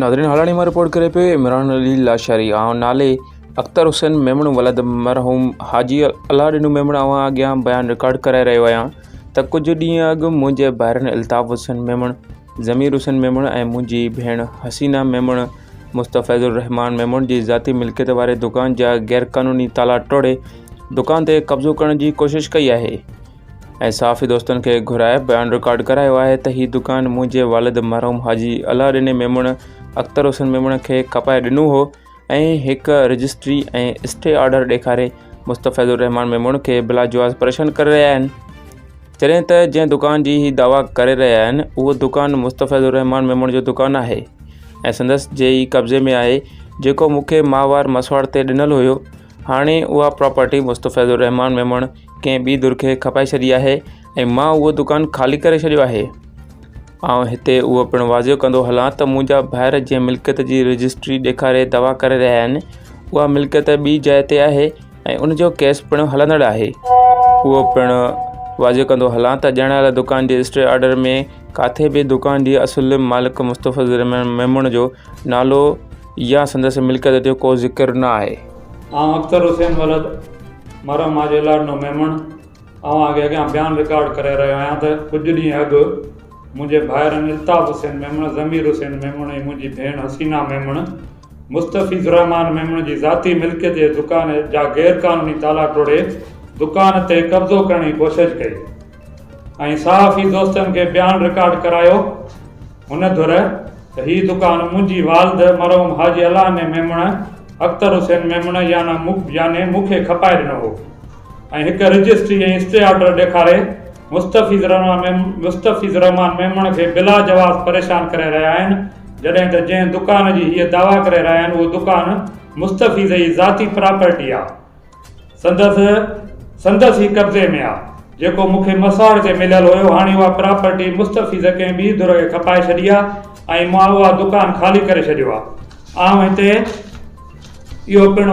ناظرين هالاڻي مان رپورٽ ڪري پيو عمران علي لاشاري آئون نالي اختر حسين ميمڻ ولد مرحوم حاجي الله ڏنو ميمڻ اوهان اڳيان بيان رڪارڊ ڪرائي رهيو آهيان ته ڪجهه ڏينهن اڳ منهنجي ڀائرن الطاف حسين ميمڻ ضمير حسين ميمڻ ۽ منهنجي ڀيڻ حسينه ميمڻ مستفيض الرحمان ميمڻ جي ذاتي ملڪيت واري دڪان جا غيرقانوني تالا ٽوڙي دڪان تي قبضو ڪرڻ جي ڪوشش ڪئي آهي ۽ صحافي دوستن کي گهرائي بيان رڪارڊ ڪرايو آهي ته هي دڪان منهنجي والد مرحوم حاجي الله ڏني ميمڻ اختر حسين ميمڻ کي کپائي ڏنو هو ۽ هڪ رجسٽري ۽ اسٽي آرڊر ڏيکاري مستفيض الرحمان ميمڻ کي بلاجواز پريشان ڪري رهيا آهن جڏهن ته جنهن دڪان جي هي دعويٰ ڪري رهيا آهن اهو دڪان مستفيض الرحمان ميمڻ جو دڪان آهي ۽ سندس جي ئي قبضي ۾ آهي جيڪو مون کي ماهوار مسواڙ تي ڏنل هيو هاڻي اها پراپرٽي مستفيض الرحمان ميمڻ ڪنهن ٻي ڌر کي کپائي ڇڏي آهي ۽ مان اهو دڪان خالي ڪري ڇڏيو آهي آئون هتي اهو پڻ واضح ڪندو هلان ته منهنجا ڀائر جنهن ملڪيت جي رجسٽري ڏيکاري دعويٰ ڪري رهيا آهن اها ملڪيت ٻي جاء تي آهي ۽ ان جو ڪيس پڻ هلندڙ آهي اهو پڻ واضح ڪندو هلان ته ڄاڻايل دڪان جي اسٽي آرڊر ۾ ڪاٿي به دڪان جي اصل مالڪ مستفضل ميمڻ جو نالو يا سندس ملڪيت جو ڪو ذڪر نه آهي. آئون اختر حسين ولد مرحوم حاجي لاڏنو ميمڻ اوهان کي اڳيان بيان رڪارڊ ڪري رهيو آهيان ته ڪجهه ڏينهن اڳ منهنجي ڀائرن الطاف حسين ميمڻ، ضمير حسين ميمڻ ۽ منهنجي ڀيڻ حسينا ميمڻ مستفيض الرحمان ميمڻ جي ذاتي ملڪيت جي دڪان جا غير قانوني تالا ٽوڙي دڪان تي قبضو ڪرڻ جي ڪوشش ڪئي ۽ صحافي دوستن کي بيان رڪارڊ ڪرايو هن ڌر ته هي دڪان منهنجي والد مرحوم حاجي الهاني ميمڻ اختر حسين ميمڻ يعنيٰ مون کي کپائي ڏنو هو. ۽ هڪ رجسٽري ۽ اسٽي آرڊر ڏيکاري مستفيض الرحمان ميمڻ کي بلا جواز پريشان ڪري رهيا آهن جڏهن ته جنهن دڪان جي هيء دعويٰ ڪري رهيا آهن اهو دڪان مستفيض جي ذاتي پراپرٽي آهي سندس سندس ئي قبضي ۾ آهي جيڪو مون کي مساڙ تي مليل هيو هاڻي اها پراپرٽي مستفيض ڪنهن ٻي ڌر کي کپائي ڇڏي آهي ۽ مان اها دڪان خالي ڪري ڇڏيو آهي آئون هتي اهو پڻ